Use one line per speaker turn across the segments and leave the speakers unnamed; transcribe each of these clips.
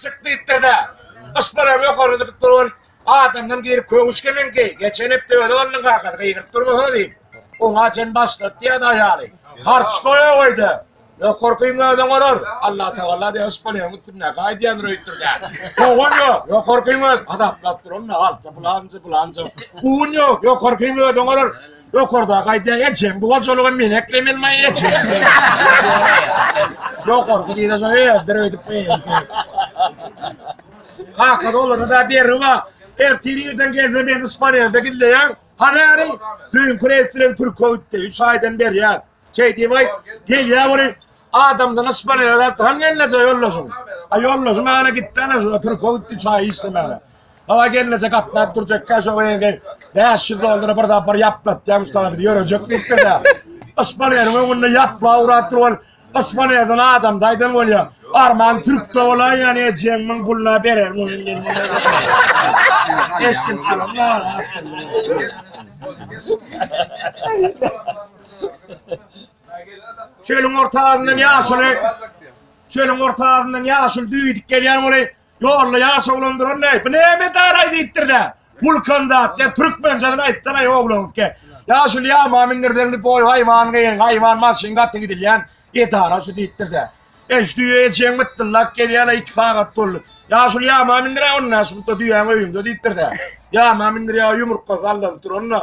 Çykdykda-da, yşpara ýokary çykyp duran adamdan girip köwüşgemeňki, geçen hepde özi alnyň kakasy gygyryp durmasa diýip, oňa çen başlat diýýärdi aýaly. Harç goýa goýda, ýokarkyň özüň olar. Allatagala diýýär, yşpalaryň üstündäki aýdýandyr öýtdür däl. Kowan ýok, ýokarkyň özi. Hasaplap duranda, alty pylanjy, pylanjy. Guwun ýok, ýokarkyň özüň olar. Ýokardaky aýdýar, ejeň bu gojalyga men eklemen maý ejeň. Ýokarky diýse şo özdir öýdüp beýemdi. Kaka dolary da beri ba. Ertir irden gelse meni Spanerde gizleýär. Hanaryň düýnki reýs bilen Türkiýe gitdi. Üç aýdan berýär. Keýdi bay, gelýä weli, adamdan yspany ölet, han gelneje ýoldaşyň. A ýoldaşy mana gitdi ana şo, türke gitdi çaý içsemana. Baba gelneje gatnap durjekkä şo geldi, bäş ýüz dollary bir sapar ýaplatýa muşdaga biz ýörejek diýipdir-dä. Yspany ýeriň öňünde ýapla urap dur weli, yspany ýerden adam daýdan bolýa, arman türkde bolaý ýa ne jeňmiň puluna bererin ony men. Eşdip durun, nara. Çölüň orta azyndan ýaşuly, çölüň orta azyndan ýaşuly düýdük gelýän oly, ýolda ýaş oglan duran ne, bu näme daraý diýipdir de, bulkan zat, sen türkmençesini aýtsanaý oglanke, ýaşuly ýama mindirseň diýip oý haýwan gyn, haýwan maşyn gaty gidilýän edara şu diýipdir de, eş düýe eşegiň mytdyllap gelýäne iki sagat boldy, ýaşuly ýama mindiräý ony näşiklik düýäň öýünde diýipdir de, ýama mindirýär ýumurtga sallanyp duran da,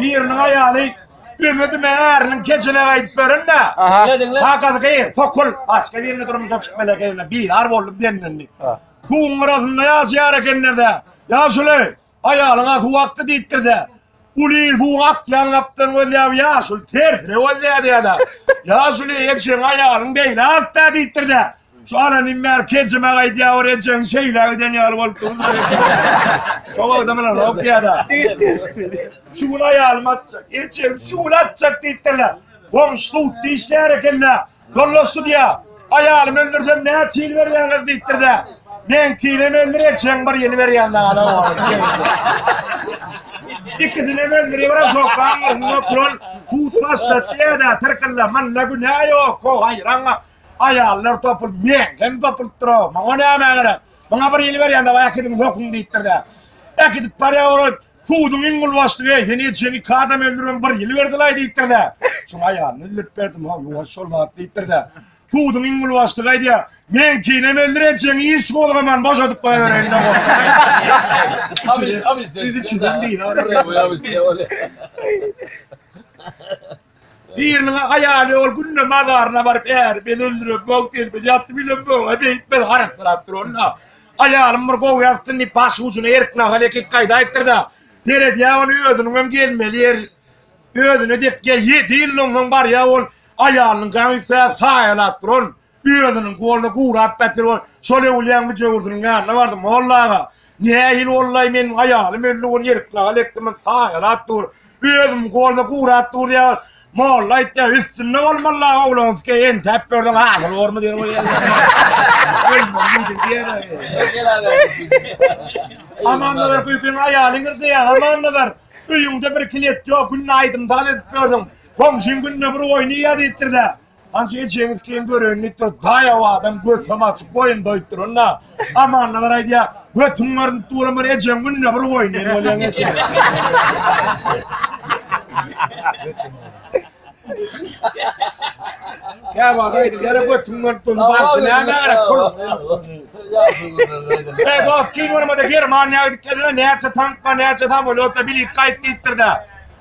Biriniň aýaly Ümidime äriniň kecine gaýdyp berin-dä. Kakasy gyr, tokul, başga birine durmuşa çykmaly ekenine bizar bolup demlendi. Suwuň gyrasynda ýaşaýar ekenler-dä. Ýaşuly, aýalyňa suw akdy diýipdir-dä. Uly il suwuň akýan gapdan gözläp ýaşuly tersine gözlädi-de. Ýaşuly, ejeň aýalyň beýle ak-dä diýipdir-dä. Şu alan in bäri kejime aýdýar bir ejeň şeýle giden ýaly bolup durdy. Şo wagtam alan ok diýada. Şu gün aýalym atjak. Ejem şu gün atjak diýipdirler. Goňşy sudda işleýär ekende. Yoldaş sudýa, aýalymy öldürsem näçe ýyl berýäňiz diýipdirde. Meňkinem öldür ejeň bir ýyl berýän dana oglum. Ikisinem öldürýär bir şok aňyrsyna oturan sud başda diýada tyrkylla manda günä ýok o haýran. Aýallar topul, men hem topulupdyr-a, maňa näme gerek? Maňa bir ýyl berýän dawa äkidiň höküň diýipdir-dä. Äkidip barýan olar, Suduň iň uly başlygy, eý, sen edişen iki adam öldüribem bir ýyl berdilaý diýipdir-dä. Şoň aýalyny öldürip berdim-ä, ýuwaş şol zat diýipdir-dä. Suduň iň uly başlygy aýdýar, Meňkinem öldür edişeňi iş gozgaman boşadyp goýabereýin-le goh.
Biz üçüden bizaryk.
Biriniň-ä aýaly ol günde mazaryna baryp äri bel öldürip, bog telpedip ýatdy, birem boga beýtmez, harassyrap dur onda. Aýalym bir gowy ýatsyn diýip, baş ujuna erk nahal ekip gaýdaýypdyr-da, seredýä ony özüniňem gelmeli ýeri özüne dek, ýa ýedi ýyldan soň barýa ol aýalynyňka ünsä saýalap duran, Özüniň goluna gurap getir bol. Şol öwülýäň müjewürdiniň ýanyna bardym. Molla aga, nähili bollaý, meniň aýalym öldi, ony ýeriknagl etdimin, saýalap dur. Özümiň goluna gurap dur diýýäňiz. Molla aýtýar, üstünde bol, molla aga, oglanyskeý entäp gördüň, hasyl bormy diýen we Amannazar köýken aýalyň irdeýär, Amannazar, öýüňde bir klet ýok, günde aýdym-saz edip gördüň. Goňşyň günde bir oýny ýazypdyr-da, Hajy ejeňiz kyn görenlikdir, daýaw adam götem açyk goýun doýup duranda, amannalar aýdýar, götüň görnüp duran bir ejeň günde bir goýun ýer bolýaň eje. Käwagt aýdylýar, götüň görnüp dursa barşy näme gerek pul. Eý dost, kyn görmede Germaniýa gidip gelene näçe tankla, näçe samolýotla bilet gaýt diýipdir-de.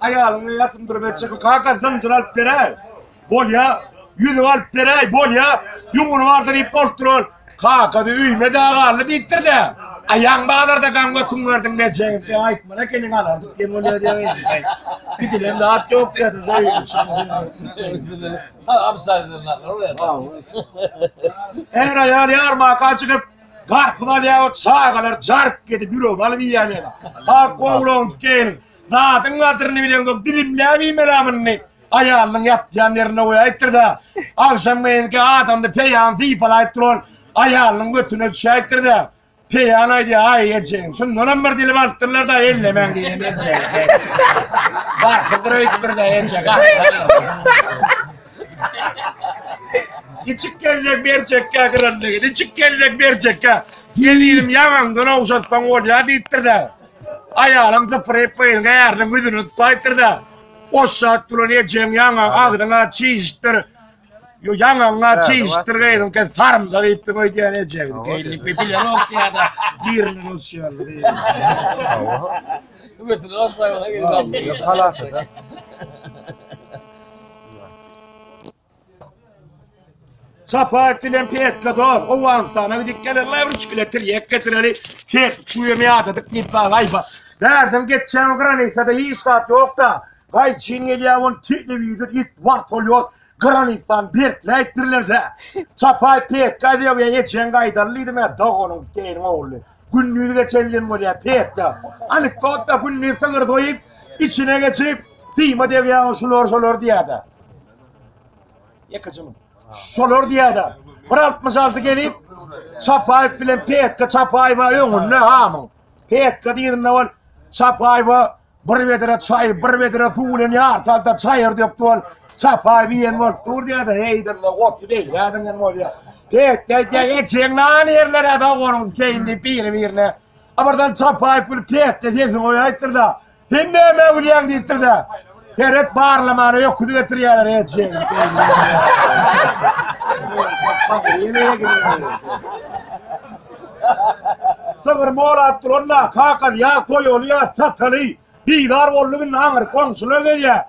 Aýalyňa ýasym bir beçeki kaka zynjyr alyp beräý. Bolýa, ýüzük alyp beräý, bolýa, ýuwuny bardy diýip bolup duran. Kakasy öýme dä galdy diýipdir dä. Aýaň bazarda gaň götüň berdiň bejegiz. E aýtmana keniň alardyk diýen bolýa diýen. Gidilen zat ýok diýdi şeý üçin. Absaýdan nakyl berdi. Her aýal ýarmaka çykyp garpyz alýar, çagalar jark edip ýürek alyp iýýär ýa-da. Ak gowlagyny tutýar. Zadyň gadryny bileňsoň dilimläp iýmeli-ä muny. Aýalynyň ýatýan ýerinde goýaýypdyr-da, agşamgeýinki adamda peýany sypalaýyp duran aýalynyň götüne düşäýipdir-de, peýan aýdýar, Aý, ejegiň şundanam bir dilim alypdyrlar-da, ellemäň diýen ejegiň sesi. Barhydyr öýüpdir-de, eje gaharlanarsyň. Niçik geljek berjekkä gyranlygy, niçik geljek berjekkä? Gelnim ýaňaňdan ogşatsaň bolýar diýipdir-de, Aýalym zypyryp gyzyň äriniň ýüzüni tutaýypdyr-da, Oşşat duran ejeň ýaňa agzyňa çişipdir, ýo ýaňaňa çişipdir gyzyňky sarymsak iýipdir goý diýýän ejegiň geýniniňki bilenok diýýä-de birini goşýar. Çapaýew bilen Petla dor, Owganystana gidip gelenler üç kile tirýek getireli, tek üç güýe ýadadyk diýip bana aýba. Bärden geçýän granisada hiç zat ýok-da, gaýçyn gelýär wol telewizor it, wartolýot, granisany berkläýip birlerde. Çapaýew Petka Zeýow ejeň gaýdaly diýdim-ä, doganyň Keýriň ogly. Gündiz geçen diýen bolýar, Petla. Anekdot-da, gündiz sygyr soýup, içine geçip, syma degýär, şular şolar diýýär-de. Ýekejemiň. Şolar diýýärdi. 166 gelip Çapaýew bilen Petka Çapaýewa öňünde hamyň. Petka diýende ol Çapaýewa bir bedere çaý, bir bedere suw bilen ýartalda çaýyr dökdi ol. Çapaýew ýen bolup dur diýýärdi. Heýdende otdy beýläden ýen bolýar. Petka diýýär, ejeň nan ýerlere da onuň keýindi biri-birine. Abardan Çapaýew bilen Petka sesini goýaýtdyr-da. Sen näme öwülýäň diýipdir-de, Seret barlamana öküz getirýärler eşek. Sygyr molap duranda kakasy ýa soýaly ýa sataly. Bizar boldy günde aňyr goňşular gelýär.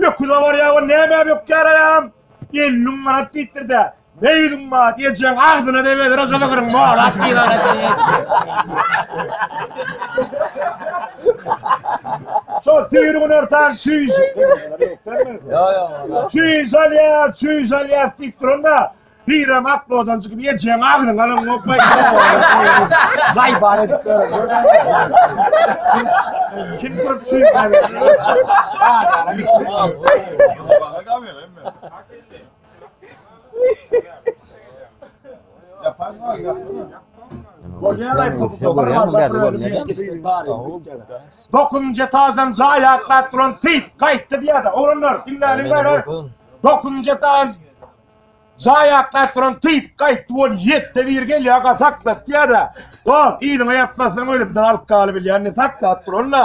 Öküze barýar we näme bökýär aýam? Elli müň manat diýipdir-de, Beýdiň bar ejeň agzyna degeli rojaly gyryň molap Şo sigir güner tan çüýş. Çüýş alýa, çüýş alýa diýip duranda Hiram ak bodan çykyp ejeň agzyň alan gopay. Daý bar edip Kim görüp çüýş alýa. Dokuzynjy etazdan jaý atlap duran Tip gaýtdy diýýär-de, oglanlar diňläliň bäri. Dokuzynjy etazdan jaý atlap duran Tip gaýtdy, ol ýetde bir gelýär, aga saklat diýýär-de, Dos, yzyňa ýatmazsaň ölümden alkaly bilýän, indi saklap duran-da.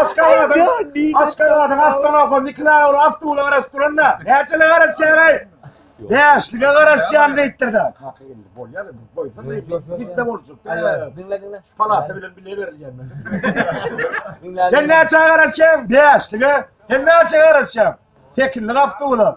Aşgabadyň Aşgabadyň awtolawka mikroawtobuly awtoulag garaşyp duranda näçelige garaşýaňaý? Bäşlige garaşýan diýipdir-de. Kaka geldi. Bolýar-da, goýsana, gitse boljak. Diňle, diňle. Şu
palata bilen bile
berilýän men. Sen näçä garaşýaň? Bäşlige. Sen näçä garaşýaň? Tekinlik awtoula.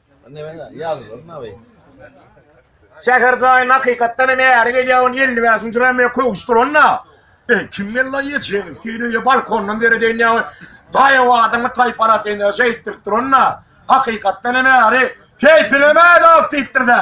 Şäher jaýyny hakykatdan hem äri gelýän on elli bäşinji raýmya köwüşdiren-dä. Eý, kim geldi-la ýetişegiň üstüne, balkondan deredeýin ýaly daýaw adamly taýpalatyny şeýtdiripdiren-dä. Hakykatdan hem äri keýpine mätäç diýipdir-dä.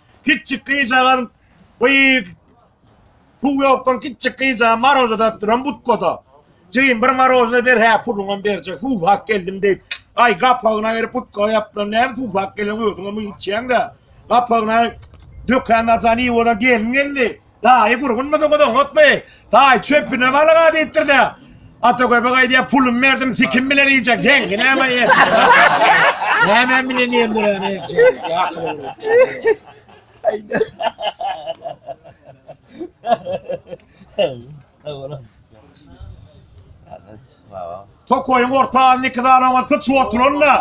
Kiçjik gyzjagaz beýik suw ýokdan kiçjik gyzjagaz maroza dadyp duran butkada. Jigim bir maroza ber hä puluňam berjek suwsap geldim diýip. Aý gapagyna berip butkaga ýapylan näme suwsap gelen özüňem içýäň-de. Gapagyna dökän naçan iý bolan gelin geldi. Daýy gurgunmydyňyz oňatmy? Daýy çöpüne balyga diýipdir-dä. Ata göbek aýdýar, pulumy berdim, sikim bilen iýjek. Ýeňňi näme iýjek? Näme bilen iýendiräni iýjek? Ýakyl ogly. Tokaýyň orta alny iki sany oňa syçyp oturan-da.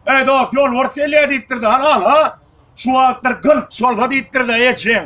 Eý dost, ýolbars gelýär diýipdir-de. Hany al-a. Şu wagtlar gylt şolsa diýipdir-de ejeň.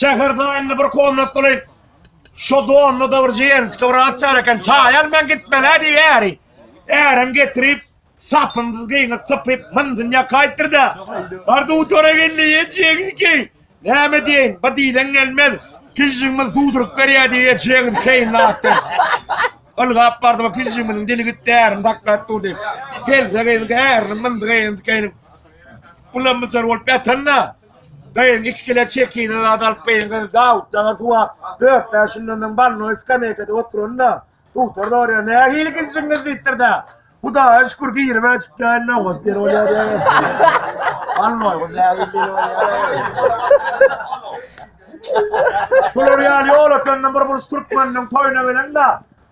Şäher jaýynda bir komnatly şo donly da bir jenski bir açar eken. Çaý al men gitmelä diýip äri. Ärem getirip satymsyz geýini sypyp myn dünýä kaýtdyrda. Bar dutara geldi ýetýäňiz ki. Näme diýen? Bu diýden gelmez. Kişiňmi suwduryp berýä diýýä çeňiz keýin atdy. Ylgap bardy bu pizjigimiziň dili gitdi ärim daklap dur diýip. Pelze gyz ärini myndy gyzyň dikeýiniň. Bulam myjar bolup ýatanda gyzyň iki kile çekine zat alyp gyzyň gyzy Dawut jaňa suwap dört bäş günden soň balnoý skameýkada oturanda suwtar sorýar nähili pizjigiňiz diýipdir-de. Hudaýa şükür girime çykýan nobat bir bolýar ya. Almaý bu nägil bir bolýar. Şular ýaly ýolaklandan bir buluş türkmeniniň toýuna gelende.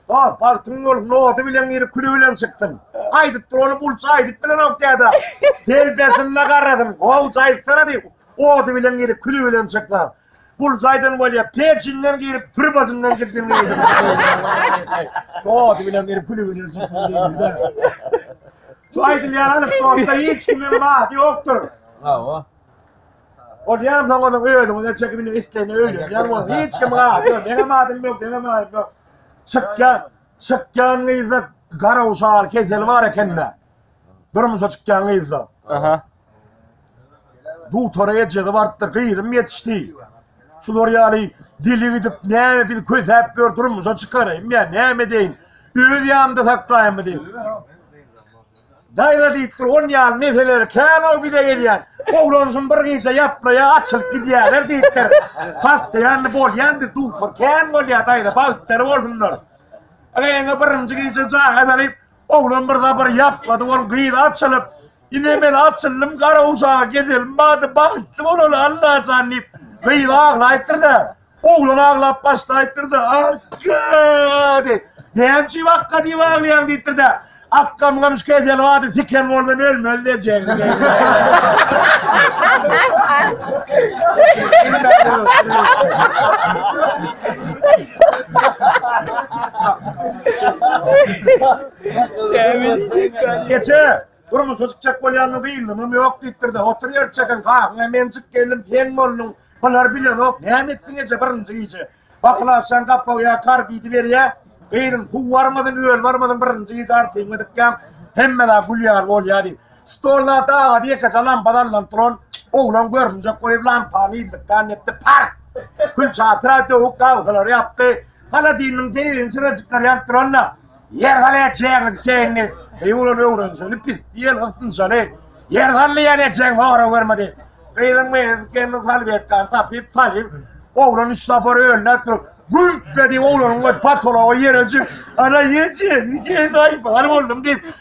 Oh, bagtyň bolsun, nobaty bilen girip küli bilen çykdym. Aýdyp dur ony bulça aýdyp bilenok däde. Telpesinde garadym. Howja aýtsana diýip, ody bilen girip küli bilen çykdym. Bul jaýdan bolýa pejinden girip trubasyndan çykdym diýdi. Şo ady bilen girip külübini çykdym diýdi. Şu aýdylýan alyp bolsa hiç kimiň bahdy ýokdur. Hawa. O diýen soňada özüňize çekip indi isleýne öýlüň. Ýa bu hiç kim bahdy ýok. Ýa bahdy ýok, ýa bahdy ýok. Çykýan, çykýan gyzda garawşal keseli bar ekende. Durmuşa çykýan gyzda. Aha. Dutara ejege barypdyr, gyzym ýetişdi. Şular ýaly dili gidip, näme biz kösäp ýör, durmuşa çykaraýyn ýa näme edeýin? Öz ýanymda saklaýynmy diýip. Daýza diýipdir, on ýaly meseleri kän-ow bize gelýän. Oglan şuny bir gije ýaplaýa, açylyp gidýärler diýipdir. Pastaýanly bolýan biz dutar kän bolýa daýza, bagtdary bolsunlar. Eňe birinji gije jaň edelik, oglan bir zat bir ýaplady, ol gyz açylyp, Ine men açyldym Garaguşaga gezelim bady bagtly bolaly Allajan diýip gyz aglaýypdyr-da, oglan aglap başlaýypdyr-da, Akga! diýip. Näme üçin Akga diýip aglaýaň diýipdir-de, Akgamgam şu kesel bady siken boldan ölmez dejegdi diýipdir. Geçe, durmuşa çykjak bolýanymy bilnimem ýok diýipdir-de, oturýar çeken kakyň hem enjik gelnim sen bolduň, bular bilenok, näme etdiň eje birinji gije? Bakylaşýaň gapaw ýa kar diýdiberýä, gyzyň suw barmadyn, öl barmadyn birinji gije artyňy dykýaň, hemmeler gülýär bolýa diýip. Stolda dagy ýekeje lampa salnan turan, oglan görünjek goýup lampany ýyldykdan depdi, park! Külçe atyra döwük gabsalary ýapdy, haladilniň teýegiň çyrajyklary ýanyp duran-da, Ýer hal etjegini keýindi, beý bolan öwrenjegini pis diýen gysynjaly ýer hally ýan etjegini hora görmedi. Gyzyň meýedip gelnini salwetkan tapyp salyp, oglan üç sapar öýüne turup, güýp-be diýip oglanyň öz patology ýere jüp, Ana ýetjegini keýindi, aýbal boldum diýip,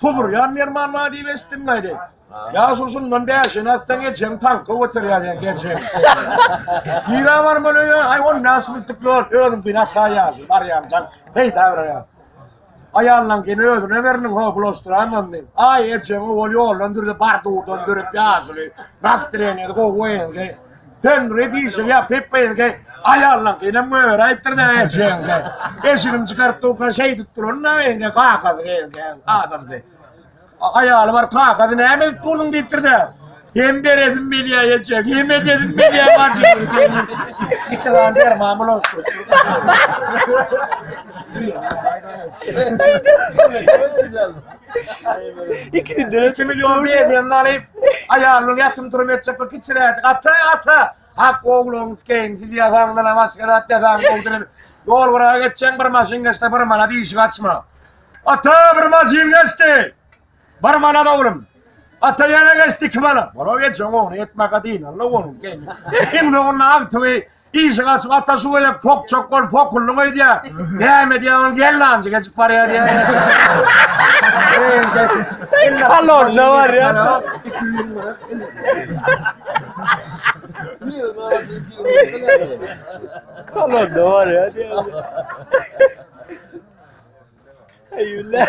Tuzurýan Merman bar diýip eşitdim aýdaýyn. Ýa şu şundan bäşini atsaň ejeň tanka göterýär ýa ejeň. Ýere barman öýe aý on bäş minutlyk ýol özüm günä taýýarsyz barýan jan peýda berýär. Aýallan gene özüne beriniň ho bulaşdyraýman diýip. Aý ejeň owal ýoldan dürdi bar durdan dürüp ýaşuly. Rast direnýedi gowy oýundy. Sen Rebişew ýa Peppeýeňke aýallaňkynyň göýeri aýtdyr näme eşegiňke. Eşigini çykaryp durka şeýdip duran näme eňke kakazy geýinke adamdy. Aýaly bar kakazy näme edip durduň diýipdir dä. Hem beredim bilýä eşek, hem ededim bilýä bajy. Iki gan derman bulaşdyr. Haydi. İkisi de 2 milyon berýän nalyp. Aýalyň ýatym turum etjek bir kiçiräjik ata ata. Hak ogluňyz keýin siz ýazaňyzdan başga zat ýazaň ogdurym. Ýol guraga geçýän bir maşyn geçse bir mana diýişik açma. Ata bir maşyn geçdi. Bir mana oglum. Ata ýene geçdi iki mana. Bolo geçen ogny etmäge dynanla onuň keýin. Iň soňunda agtygy Işik açyp ata şu gezek pok çok bol pokullyň öýdýä. Näme diýýä ol gellanjy geçip barýa diýýä. Kalor ne var ya?
Kalor ne var ya? Eyvallah.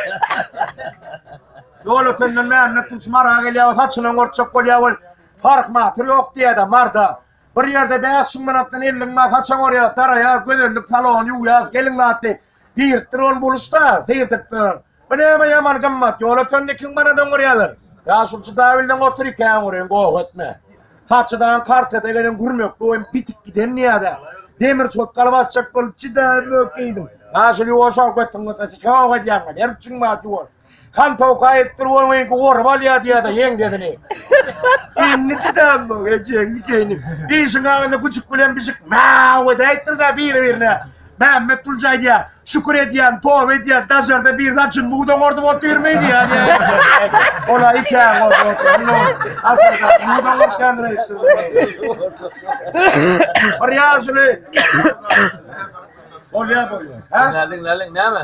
Ýol ötenden Mehmet Tunç mara gelýär, saçyny gorçak bolýar ol. Fark matyr ýok diýýä-de marda. Bir ýerde bäş müň manatdan elli müň manat haça borýar, daraýar, gözellik salony ýuwýar, gelin zatly girtdir ony buluşda seýrtip dur. Bu näme ýaman gymmat, ýol ötende iki müň manat öňürýärler. Ýa şul jydawilden otur iki äňüriň goh etme. Haçadan kartada gelen gürmekli oýun bitip giden ýa-da demir çotgaly basjak bolup jydaýyp mökýeýdim. Ýa şul ýuwaş owkatyň bolsa sikä ow edýäňmi, ner üçin bar ýuwaş. Han towka etdir bolmaýyn ki orup alýa diýada ýeň dezini. Indi çydam bu ejeň dikeýini. Işiň agynda güjük bilen bijik mäw ede etdir da biri birine. Mämmet Tulja aýdýa, şükür edýän, toba edýän, dajarda bir zat jyn mudan ordup otyrmy diýa diýä. Ola ikäň ordup otyr. Aslynda mudan orkan reýtdi. Bir ýaşuly. Olýa bolýa. Ha? Näliň näliň näme?